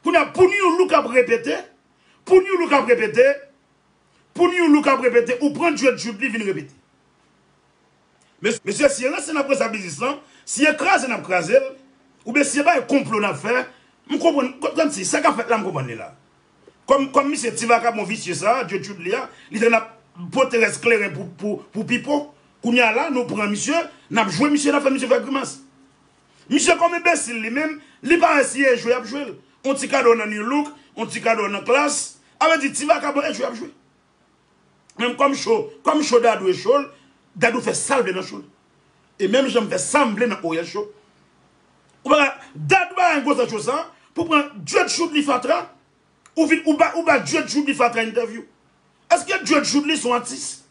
Kounya pou nu look ap repete pou nu look ap repete pou nu look ap repete ou pran djwet jude li vin repete. Mesye si e ranse nap ranse biznis lan si e kraze nap krazel oubyen si e bay konplo nap fè m konprann kmsi sa kap fèt la m konprann li la kòm misye ti vakabon visye sa djwet jude li a li te nap pote rès kleren pou pipo kounya la nou pran misye nap jwe misye nap fè misye fè grimas. Misye kòm enbesil li menm, li pa wè si e jwe yap jwel. On ti kado nan Nu Look, on ti kado nan Klass, a vle di ti vakabon e jwe yap jwe. Menm kòm cho, kòm cho Dadou e chol, Dadou fè sal vle nan chol. E menm jan m fè sam vle nan Oryèl Show. Ou pa ka, Dad bay yon gwosè cho sa, pou pran Dread Shoudly fatra, ou vin ou ba ou ba Dread Shoudly fatra entèvyou. Eske Dread Shoudly son atis?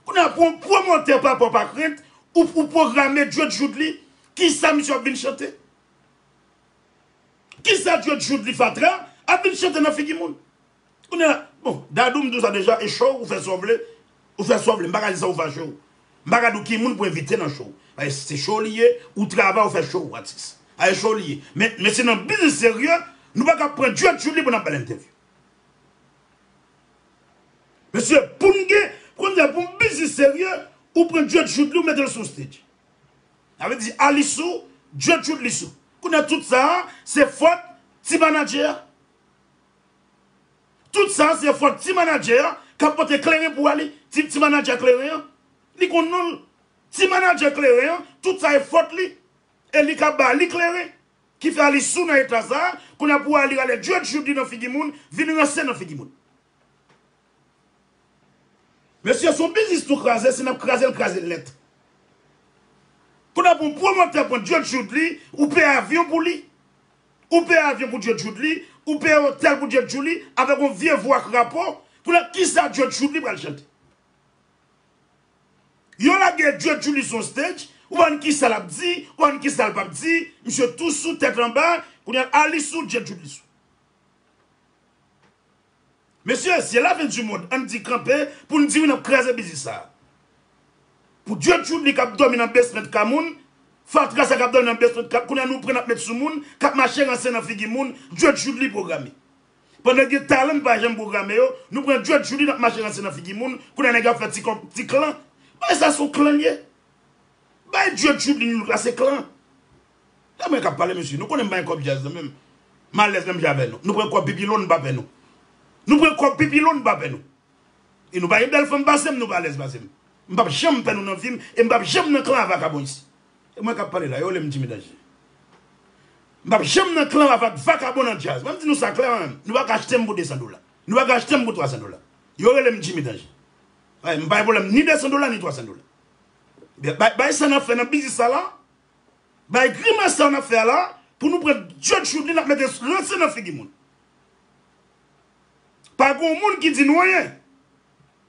Kounya pou yon pwomotè papa w pa k rent ou pwograme Djed Joodly kisa misye ap vin chante? Kisa Djed Joodly fatra ap vin chante nan figi moun? Kounya la bon Dadou m di w sa deja e show ou fè sa w vle ou fè sa w vle m pa ka di sa ou fache w m pa ka di w ki moun pou envite nan show paske se show li ye ou travay ou fè show ou atis a e show li ye men se nan biznis serye nou pa ka pran Djed Joodly pou n ap ba l entèvyou. Mesye poun gen kounya poun biznis serye ou pran dread chute li ou metel sou stage sa vle di Alice sou dread chute li sou kounya tout sa se fòt ti manadjè a tout sa se fòt ti manadjè a kap pote kleren pou Ali ti manadjè kleren an li konn nonl ti manadjè kleren an tout sa e fòt li e li kap ba Ali kleren Ki fè Alice sou nan eta sa, kounya pou Ali rale Judge Judy nan figi moun, vin ranse nan figi moun. Mesye son biznis nou kraze si nap krazel krazel nèt. Kounya pou yon pwomotè pran Judge Judy ou peye avyon pou li, ou peye avyon pou Judge Judy, ou peye otèl pou Judge Judy avèk yon vye vwa krapo, kounya kisa Judge Judy pral chante. Yo lage Dye Julie sou yon stage, ou pa konn kisa lap di, ou pa konn kisa l pap di, misye tou sou tèt anba, kounya a li sou Dye Julie sou. Mesye, se la fin du monde, ann di kanpe pou n di wi nap kraze biznis sa. Pou Dye Julie kap dòmi nan basement ka moun, fatra sa kap dòmi nan basement ka, kounya nou pran nap met sou moun, kap mache ranse nan figi moun, Dye Julie programe. Pandan gen talan n pa janm pwograme yo, nou pran djwèt Julie n ap mache ranse nan figi moun, kounye a nèg ap fè ti kòb, ti klan. Bagay sa son klan l ye. Bagay djwèt Julie n look la se klan. Se mwen k ap pale mesye, nou konnen m pa gen kòb djaz nan men m. M alèz menm jan avè nou. Nou pran kòb pipi lon n pa pè nou. Nou pran kòb pipi lon n pa pè nou. E nou pa gen bèl fanm pase m, nou pa alèz pase m. M p ap janm pè nou nan vi m e m p ap janm nan klan a vakabon isi. E mwen kap pale la, yo relem Jimmy Danger. M pap janm nan klan avak vakabon nan djaz. Mwen di nou sa klè mwen, nou paka achte m pou 200 dola. Nou paka achte m pou 300 dola. Yo rele m Jimmy Danger. Wi, m pa gen pwoblèm ni 200 dola ni 300 dola. Ebyen, bay sa n ap fè nan biznis sa la, bay grimas sa n ap fè a la, pou nou pran Judge Shoodly n ap mete ranse nan figi moun. Pa gen yon moun ki di nou anyen.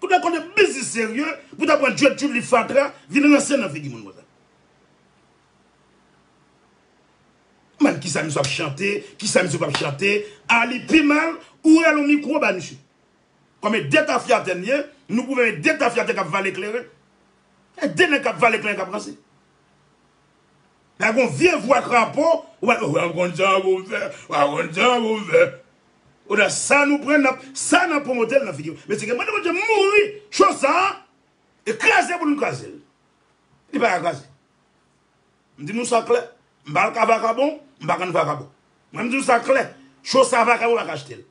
Ou ta konnen biznis serye pou ta pran djwet tchouli fatra vin ranse nan figi moun konsa. M'en kisa misye ap chante, kisa misye pap chante, a li pi mal ou rale yon mikwo bay misye. Konbyen de tafyatè n ye, nou pwouve de tafyatè kap vale kleren. E de nèg kap vale kleren kap ranse. La gon vye vwa krapo ou pa ou pa konn sa pou m fè ou pa konn sa pou m fè ou nan sa nou pran nan sa nan pwomotel nan figi mesye gen mande bondye mouri cho sa e kraze pou nou kraze l li pa ka kraze m di nou sa klè m pa al ka vakabon m pa konn vakabon mwen m di nou sa klè cho sa vakabon pa ka achte l.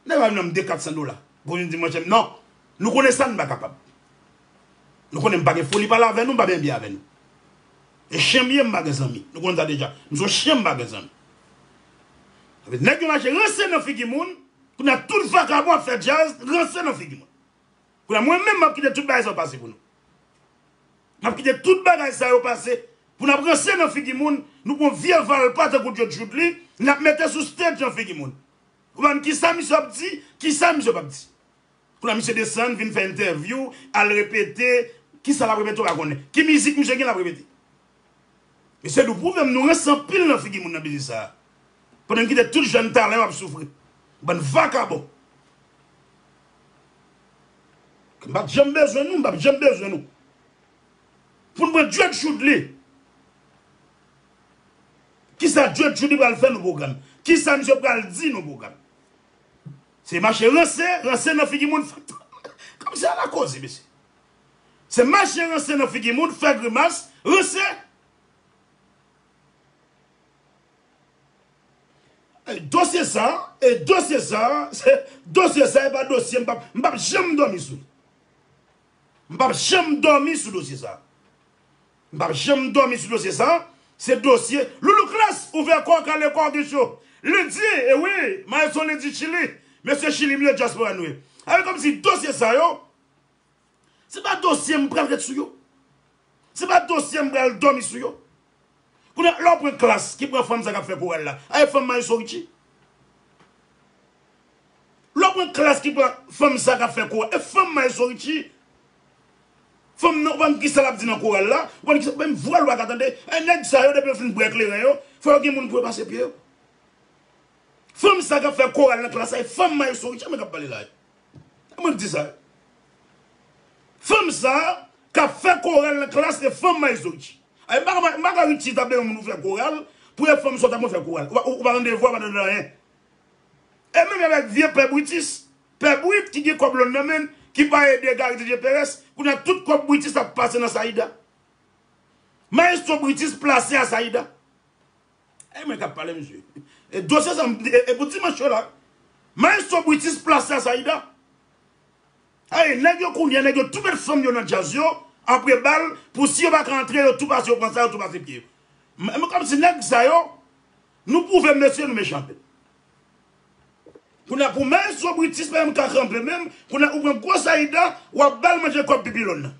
Nèg la vin mande 400 dola. Pou vin di mwen chèm non. Nou konnen sa nou pa kapab. Nou konnen m pa gen foli pale avè nou, m pa byen byen avè nou. E chyen m ye, m pa gen zanmi. Nou konnen sa deja. M son chyen m pa gen zanmi. Epi nèg yo mache rense nan figi moun. Kounye a tout vakabon ap fè djaz rense nan figi moun. Kounye a mwen menm m ap kite tout bagay sa yo pase pou nou. M ap kite tout bagay sa yo pase pou n ap rense nan figi moun. Nou pran vye valpa tankou Djodjoudli n ap mete sou stage nan figi moun. Konprann kisa misye ap di, kisa misye pap di. Kounye a misye desann vin fè entèvyou, al repete, kisa lap repete ou pa konnen. Ki mizik misye gen lap repete. Mesye nou pwouvem nou rans anpil nan figi moun nan biznis sa a. Pandan n kite tout jèn talan yo ap soufri. Bann vakabon. Mpat janm bezwen nou, m pap janm bezwen nou. Poun pran djed joudly. Kisa djed joudly pral fè nou program. Kisa misye pral di nou program. Se mache ranse ranse nan figi moun fè. Kom se ala koze mesye. Se mache ranse nan figi moun fè grimas ranse. Dosye sa e dosye sa. Dosye sa e pa dosye m pap janm domi sou li. M pap janm dòmi sou dosye sa. M pap janm dòmi sou dosye sa, se dosye Loulou Klass ouvè kò w kale kò w gen cho Lundi e wi Maestro Lundi Chili Mesye Chili m yo Dyaspora nou ye Alò kòmsi dosye sa yo se pa dosye m pral ret sou yo. Se pa dosye m pral domi sou yo. Kounye a lè w pran klass ki pran fanm sa kap fè koral la a e fanm maestro Richie? Lè w pran klass ki pran fanm sa kap fè koral e fanm maestro Richie? Fanm nan ou pa konn kisa lap di nan koral la, ou pa konn kisa menm vwa l ou paka tande e nèg sa yo depi yo fin bwè kleren yo fò yo gen moun pou yo pase pye yo. Fanm sa kap fè koral nan klass la e fanm maestro Richie men kap pale la e. E mwen k di sa yo. Fanm sa a k ap fè koral nan klas se fanm Mayzogi. M pa ka m pa ka ripti tap de yon moun pou fè koral pou yon fanm sòt ap konn fè koral. Ou pa konn devwa, ou pa konn anyen. E menm avèk vye pè Britis, pè Brit ki gen kòb lòn nan men l, ki pa ede Gari Didye Perès, kounye a tout kòb Britis ap pase nan Sayida. Mayestwo Britis plase a Sayida. Ey mwen kap pale mesye. E dosye sa e pou dimanche yo la. Maestro Britis plase a Saïda. Ey nèg yo kounye nèg yo tou met fanm yo nan djaz yo apre bal pou si yo pa ka antre yo tou pase yo pran sa yo tou pase pye yo. Mwen kòm si nèg sa yo nou pwouve mesye nou mechan anpil. Kounya pou maestro Britis pa menm ka kanpe menm kounya ou pran gwo Saïda wap bal manje kòb pipi lòn nan.